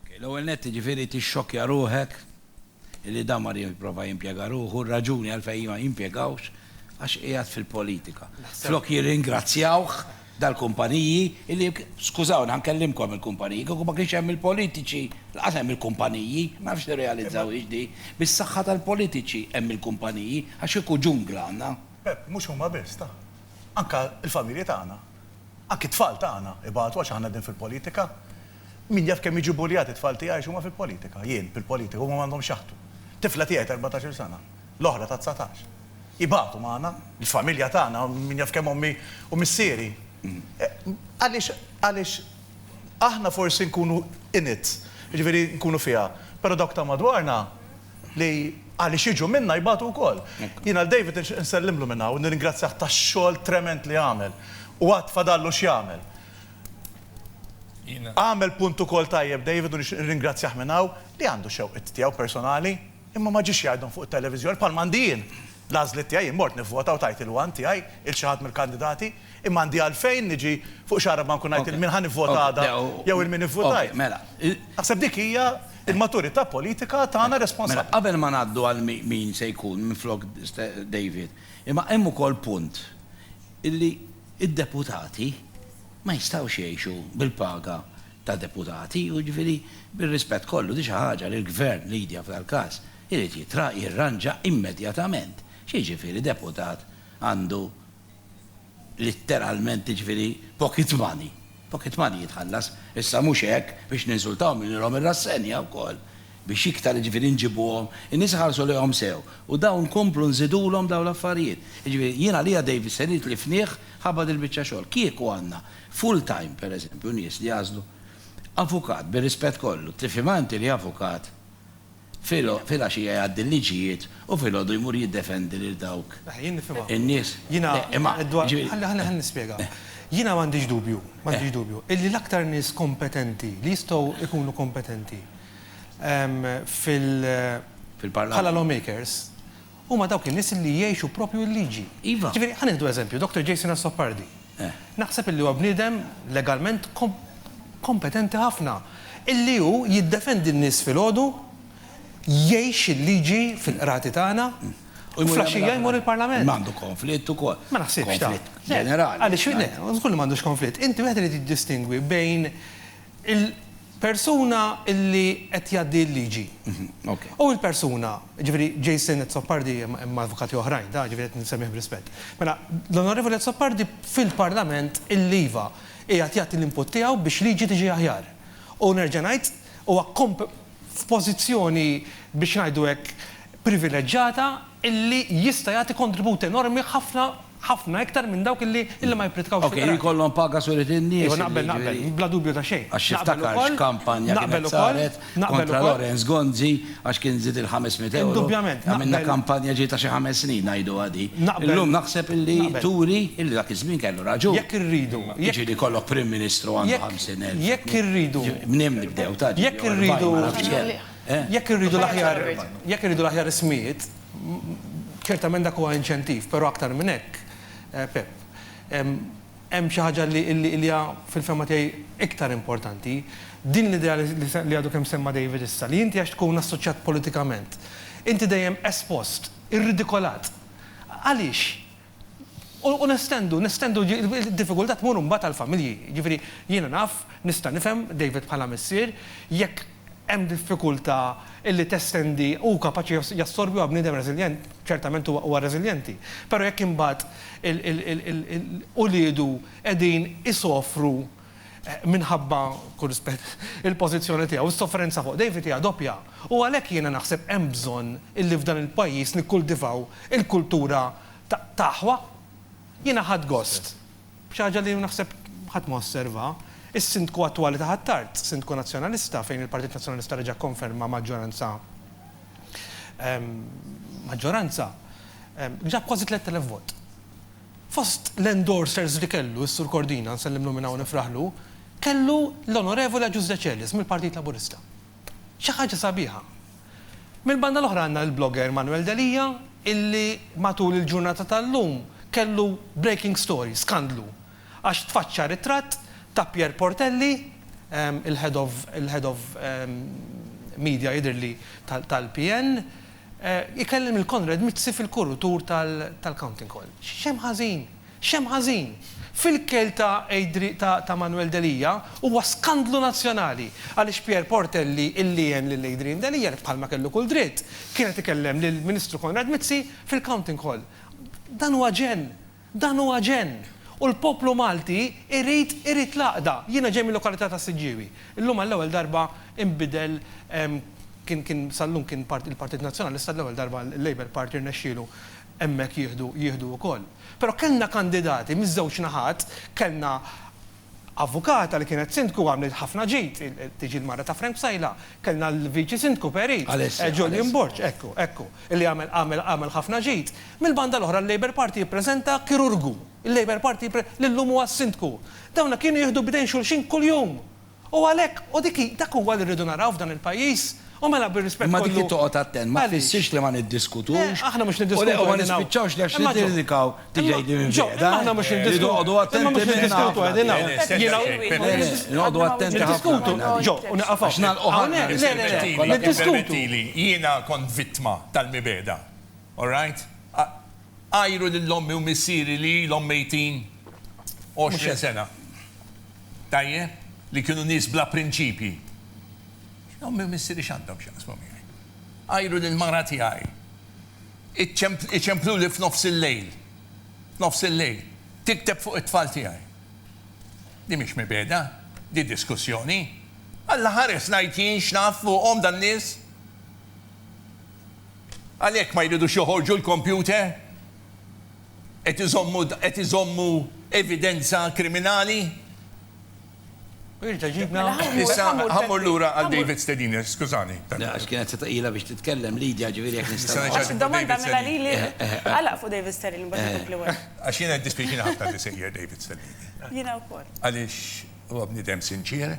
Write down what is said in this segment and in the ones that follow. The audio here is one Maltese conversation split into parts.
Ok, l-ewwel nett jiġifieri tixxokkja ruħek illi dan mar jipprova jimpjega ruħu, r-raġuni għalfejn ma jimpjegawx għax qiegħed fil-politika. Flok jirringrazzjawh dal-kumpaniji illi, skużawni ħa nkellimkom il-kumpaniji, kieku ma kienx hemm il-politiċi, lanqas hemm il-kumpaniji, ma nafx tirrealizzawhiex din, bis-saħħa tal-politiċi hemm il-kumpaniji, għax kieku ġungla għandna. Pepp, mhux huma biss, ta. Anke l-familji tagħna. Anki t-tfal tagħna ibatu għax aħna qegħdin fil-politika. Min jaf kemm jiġu buljati t-tfal tiegħi għax huma fil-politika. Jien, fil-politika, huma m'għandhomx x'jaħtu. Tifla tiegħi t'erbatax-il sena, l-oħra ta' dsatax. Ibatu magħna, l-familja tagħna, min jaf kemm ommi u missieri. Għaliex, għaliex aħna forsi nkunu in it, jiġifieri nkunu fiha, però dawk ta' madwarna, li għaliex jiġu minna jbatu wkoll. Jiena lil David nixtieq insellimlu minn hawn u nirringrazzjah tax-xogħol tremend li għamel u għad fadallu x'jagħmel. Għamel punt ukoll tajjeb David u nixtieq nirringrazzjah minn hawn li għandu xewqiet tiegħu personali imma ma ġiex jgħidhom fuq it-televiżjoni bħalma għandi jien l-għażliet tiegħi, jien mort nivvota u tajt il-one tiegħi lil xi ħadd mill-kandidati imma għandi għalfejn niġi fuq xi għaraba nkun ngħid lil min ħa nivvota għada jew lil min ivvutajt. Naħseb dik hija Il-maturità politika tagħna responsabbli. Mela, qabel ma ngħaddu għal min se jkun minflok David, imma hemm ukoll punt illi d-deputati ma jistgħux jgħixu bil-paga ta' deputati u jiġifieri bir-rispett kollu din xi ħaġa li l-Gvern, Lydia f'dal-każ, irid jirranġa immedjatament. X'jiġifieri deputat għandu litteralment jiġifieri pocket money. Pocket money jitħallas. Issa mhux hekk, biex ninsultahom nililhom ir-rassenja wkoll, biex iktar jiġifieri nġibuhom, in-nies iħarsu lejhom sew u dawn nkomplu nżidulhom dawn l-affarijiet. Jiġifieri jien għalija David se nitlifnih ħabba dil-biċċa xogħol. Kieku għandna full time pereżempju nies li jagħżlu avukat bir-rispett kollu, tifhimha inti li avukat Filgħaxija jgħaddi l-liġijiet u filgħodu jmur jiddefendi lil dawk in-nies. Imma, jiġifieri. Ħalli nispjega. Jiena m'għandix dubju, m'għandix dubju, illi l-aktar nies kompetenti li jistgħu jkunu kompetenti fil-Parlament, bħala lawmakers, huma dawk in-nies li jgħixu proprju l-liġi. Iva. Jiġifieri, ħa nieħdu eżempju, Doctor Jason Azzopardi. Eh. Naħseb illi huwa bniedem legalment kompetenti ħafna, illi hu jiddefendi n-nies filgħodu, jgħix il-liġi fil-qrati tagħna, u flaxxija jmur il-Parlament. Ma għandu konflitt ukoll. Ma naħsibx ta. Konflitt ġenerali. Għaliex le, żgur li m'għandux konflitt. Inti wieħed irid jiddistingwi bejn Il-persuna li qed jgħaddi l-liġi. U l-persuna, jiġifieri Jason Azzopardi, hemm avukati oħrajn, da jiġifieri qed insemmih b'rispett. Mela, l-Onorevoli Azzopardi fil-Parlament illi iva, qiegħed jagħti l-input tiegħu biex liġi tiġi aħjar. U nerġa' ngħid, huwa f'pożizzjoni biex ngħidu hekk privileġġata illi jista' jagħti kontribut enormi ħafna, Ħafna iktar minn dawk illi, illi ma jippritkawx fil-qrati. Ok, jkollhom paga suret in-nies. Iva, naqbel, naqbel, bla dubju ta' xejn. Għax tiftakar x'kampanja kienet saret kontra Lawrence Gonzi għax kien żied il-ħames mitt ewro. Indubjament. Għamilna kampanja ġiet ta' xi ħames snin ngħiduha di. Naqbel. Illum naħseb illi turi illi dak iż-żmien kellu raġun. Jekk irridu. Jiġri li jkollok Prim Ministru għandu ħamsin elf. Jekk irridu. Mnejn nibdew, ta' ġew. Jekk irridu. Jekk irridu l-aħjar, jekk irridu l-aħjar ismijiet. Ċertament dak huwa inċentiv, però aktar minn hekk, Pep, hemm xi ħaġa li hija fil-fehma tiegħi iktar importanti. Din l-idea li għadu kemm semma David issa, li inti għax tkun assoċjat politikament, inti dejjem espost, irridikolat. Għaliex? U nestendu, nestendu, id-diffikultà tmur imbagħad għall-familji. Jiġifieri, jiena naf, nista' nifhem, David bħala missier, jekk hemm diffikultà li testendi, hu kapaċi jassorbi, huwa bniedem reżiljenti, ċertament huwa reżiljenti. Però jekk imbagħad il-, il-, il-, il-, uliedu qegħdin isofru minħabba, b'kull rispett, il-pożizzjoni tiegħu, is-sofferenza fuq David hija doppja u għalhekk jiena naħseb hemm bżonn illi f'dan il-pajjiż nikkultivaw il-kultura ta' ta' aħwa. Jiena ħadt gost, b'xi ħaġa li naħseb ħadd ma osserva, is-Sindku attwali ta' Ħ'Attard, Sindku Nazzjonalista fejn il-Partit Nazzjonalista reġa' kkonferma maġġoranza maġġoranza, ġab kważi tlett elef vot. Fost l-endorsers li kellu s-Sur Cordina, nsellimlu minn hawn u nifraħlu, kellu l-Onorevoli Agius Decelis mill-Partit Laburista. Xi ħaġa sabiħa. Mill-banda l-oħra għandna l-blogger Manuel Delia illi matul il-ġurnata tal-lum kellu breaking story, skandlu, għax tfaċċa ritratt ta' Pierre Portelli, il-Head of il-Head of Media jidhirli tal-PN, Ikellem lil Konrad Mizzi fil-kurutur tal-Counting Hall. X'hemm ħażin? X'hemm ħażin? Fil-kejl ta' Adri-, ta' Manwel Delia, huwa skandlu nazzjonali, għaliex Pierre Portelli illi għen lil Adrian Delia, li bħalma kellu kull dritt, kien qed ikellem lill-Ministru Konrad Mizzi fil-Counting Hall. Dan huwa ġenn! Dan huwa ġenn! U l-poplu Malti jrid irid l-għaqda. Jiena ġej mil-lokalità tas-Siġġiewi. Illum għall-ewwel darba inbidel kien kien sal-lum kien part il-Partit Nazzjonalista għall-ewwel darba l-Labour Party rnexxielu hemmhekk jieħdu jieħdu wkoll. Però kellna kandidati miż-żewġ naħat kellna Avukata li kienet sindku għamlet ħafna ġid, tiġi l-mara ta' Frank Psaila, kellna l-viċi sindku Perit, Julian Borg, ekku, ekku, illi għamel, għamel, għamel ħafna ġid. Mill-banda l-oħra l-Labour Party jippreżenta kirurgu, il-Labour Party jippre, li llum huwa s-sindku. Dawna kienu jieħdu b'idejn xulxin kuljum! U għalhekk, u dik hi, dak huwa li rridu naraw f'dan il-pajjiż, U mela bir-rispett kollu. Imma dik li toqgħod attent ma tfissirx li ma niddiskutux u ma nispiċċawx li għax nikkritikaw tiġi tgħidli minn fejn. Imma aħna mhux niddiskutu. Imma mhux niddiskutu qegħdin hawn. Noqogħdu attenti ħafna. Ġo, u nieqaf hawn. Hawnhekk, le, le, le, niddiskutu. Jiena kont vittma tal-mibegħda. All right? Għajru lil ommi u missieri li ilhom mejtin 20 sena. Tajjeb? Li kienu nies bla prinċipji. Ommi u missiri x'għandhom x'jaqsmu miegħi? Għajru lill-mara tiegħi. Iċempluli f'nofs il-lejl. F'nofs il-lejl. Tikteb fuq it-tfal tiegħi. Din mhix mibegħda. Din diskussjoni. Alla ħares ngħid jien x'naf fuqhom dan nies. Għalhekk ma jridux joħorġu l-kompjuter? Qed iżommu evidenza kriminali? Issa, ħammur lura għal David Stediner, skużani. Għax kienet se tqila biex titkellem Lidia ġifieri jekk nista' ngħid. Għax id-domanda mela lili għalaq fuq David Stellini biex ikompli wara. Għax jiena jiddispjaċini ħafna li sejjer David Stellini. Jiena wkoll. Għaliex huwa bniedem sinċier,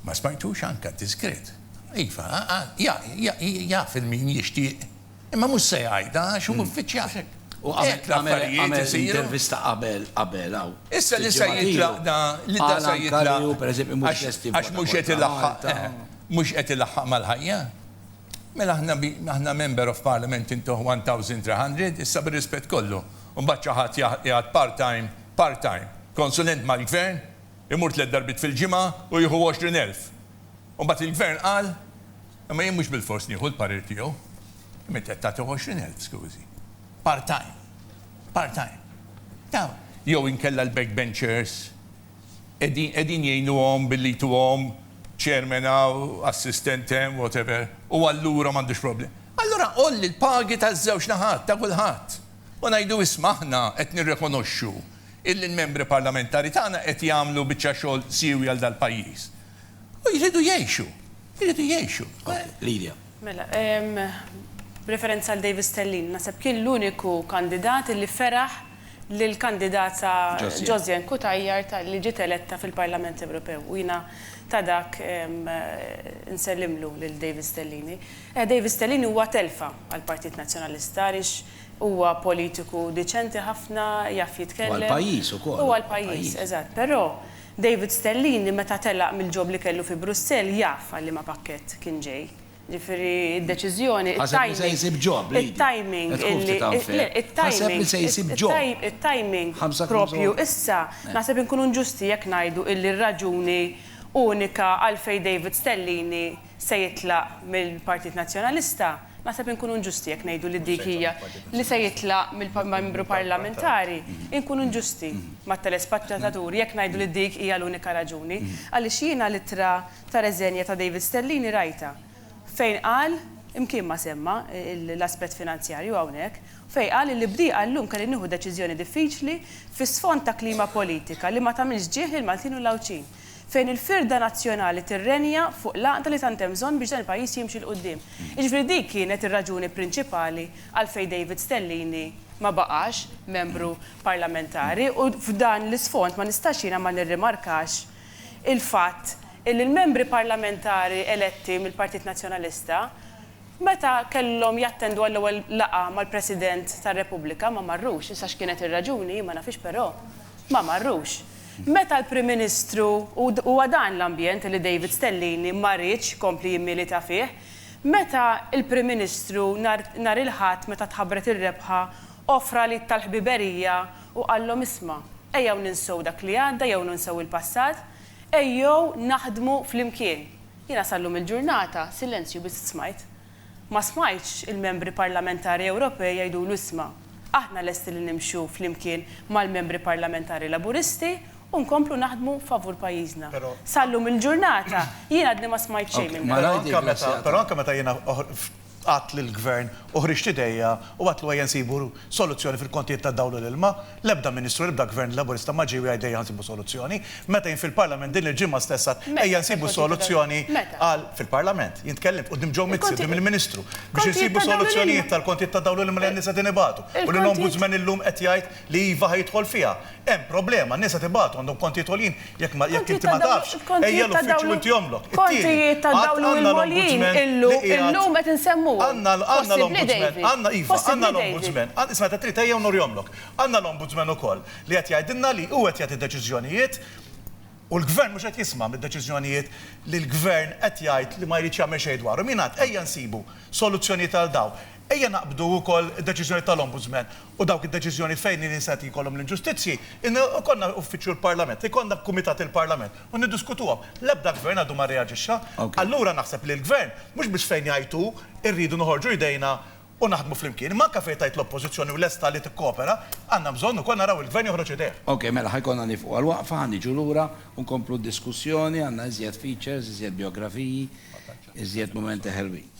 ma smajtux anke diskret. Iva, jaf il-min jixtieq. Imma mhux se jgħidha għax hu uffiċjal. Hu għamel għamel intervista qabel qabel hawn. Issa li se jitlaq da li da se jitlaq. Għax mhux qed ilaħħaq mhux qed ilaħħaq mal-ħajja. Mela aħna aħna Member of Parliament intuh 1300 issa bir-rispett kollu. U mbagħad xi ħadd jgħad part time part time konsulent mal-Gvern imur tliet darbiet fil-ġimgħa u jieħu 20,000. U mbagħad il-Gvern qal Imma jien mhux bilfors nieħu l-parir tiegħu. Imma inti qed tagħti 20,000, skużi. Part-time. Part-time. Taf, jew inkella l-backbenchers qegħdin qegħdin jgħinuhom billi jtuhom chairman hawn, assistent hemm, whatever, u allura m'għandux problem. Allura għolli l-pagi taż-żewġ naħat, ta' kulħadd. U ngħidu isma' aħna qed nirrekonoxxu illi l-membri parlamentari tagħna qed jagħmlu biċċa xogħol siewi għal dal-pajjiż. U jridu jgħixu. Jridu jgħixu. Lidia. Mela, b'referenza għal David Stellini, naħseb kien l-uniku kandidat illi feraħ lill-kandidata Josiane Cutajar talli ġiet eletta fil-Parlament Ewropew u jiena ta' dak nsellimlu lil David Stellini. David Stellini huwa telfa għall-Partit Nazzjonalista għaliex huwa politiku diċenti ħafna, jaf jitkellem. U għall-pajjiż ukoll. U għall-pajjiż, eżatt. Però David Stellini meta telaq mill-job li kellu fi Brussell jaf għal liema pakkett kien ġej. Ġifieri d-deċiżjoni, it-timing, it-timing propju issa, naħseb inkunu nġusti jekk ngħidu illi r-raġuni unika għalfejn David Stellini se jitlaq mill-Partit Nazzjonalista, naħseb inkunu inġusti jekk ngħidu li dik hija, li se jitlaq mill-Membru Parlamentari, inkunu inġusti mat-telespettaturi jekk ngħidu li dik hija l-unika raġuni, għaliex jiena l-ittra ta' reżenja ta' David Stellini rajtha, fejn qal, imkien ma semma l-aspett finanzjarju hawnhekk, fejn qal li b'dieqa llum kelli nieħu deċiżjoni diffiċli fi sfond ta' klima politika li ma tagħmilx ġieh lill-Maltin u l-Għawdxin. fejn il-firda nazzjonali tirrenja fuq l-għaqda li tant hemm bżonn biex dan il-pajjiż jimxi 'l quddiem. Jiġifieri dik kienet ir-raġuni prinċipali għalfejn David Stellini ma baqax membru parlamentari u f'dan l-isfond ma nistax jiena ma nirrimarkax il-fatt illi l-membri parlamentari eletti mill-Partit Nazzjonalista meta kellhom jattendu għall-ewwel laqgħa mal-President tar-Repubblika ma marrux. Issa x'kienet ir-raġuni jien ma nafhiex però Ma marrux. Meta l-Prim Ministru, u huwa dan l-ambjent li David Stellini ma riedx ikompli jimmilita fih, meta l-Prim Ministru nhar nhar il-Ħadd meta tħabbret ir-rebħa offra l-id tal-ħbiberija u qallhom isma', ejjew ninsew dak li għadda jew ninsew il-passat, ejjew naħdmu flimkien. Jiena sal-lum il-ġurnata silenzju biss smajt. Ma smajtx il-Membri Parlamentari Ewropej jgħidulu isma', aħna lesti li nimxu flimkien mal-Membri Parlamentari Laburisti u nkomplu naħdmu favur pajjiżna. Sa llum il-ġurnata jien għadni ma smajt xejn minn dan. Però anke meta jiena għadt lill-Gvern u ħriġt idejja u għedtlu ejja nsibu soluzzjoni fil-kontijiet tad-dawl u l-ilma, L-ebda Ministru, l-ebda Gvern Laburista ma ġie u jgħid ejja nsibu soluzzjoni. Meta jien fil-Parlament din il-ġimgħa stess għidt ejja nsibu soluzzjoni għal, fil-Parlament, jien tkellimt quddiem Joe Mizzi, quddiem il-Ministru, biex insibu soluzzjonijiet tal-kontijiet tad-dawl u li mela n-nies qegħdin ibatu u li l-Ombudsman illum qed jgħid li iva ħa jidħol fiha. Hemm problema, n-nies qed ibatu, għandhom kontijiet għoljin, Jekk ma jekk inti ma tafx, ejja l-uffiċċju inti omlok. Kontijiet ta' dawn il-moljin illum illum qed insemmuhom. Għandna għandna l-Ombudsman, għandna iva, għandna l-Ombudsman. Isma' ta' trid ejja u nurihomlok. Għandna l-Ombudsman ukoll li qed jgħidilna li hu qed jagħti deċiżjonijiet u l-Gvern mhux qed jisma' mid-deċiżjonijiet li l-Gvern qed jgħid li ma jridx jagħmel xejn dwarhom. Jien għedt ejja nsibu soluzzjonijiet għal dawn. Ejja naqbdu wkoll id-deċiżjonijiet tal-Ombudsman u dawk id-deċiżjoni fejn in-nies qed jkollhom l-inġustizzji, in ikollna uffiċċju l-Parlament, ikollna kumitat il-Parlament u niddiskutuhom. L-ebda Gvern għadu ma rreaġixxa. Allura naħseb li l-Gvern, mhux biss fejn jgħid hu, irridu noħorġu jdejna u naħdmu flimkien, imma anke fejn tgħid l-Oppożizzjoni u lesta li tikkopera, għandna bżonn ukoll naraw il-Gvern joħroġ idejh. Ok, mela ħa jkollna nieqfu għal waqfa, ħa niġu lura u nkomplu d-diskussjoni, għandna iżjed features, iżjed bijografiji, iżjed mumenti ħelwin.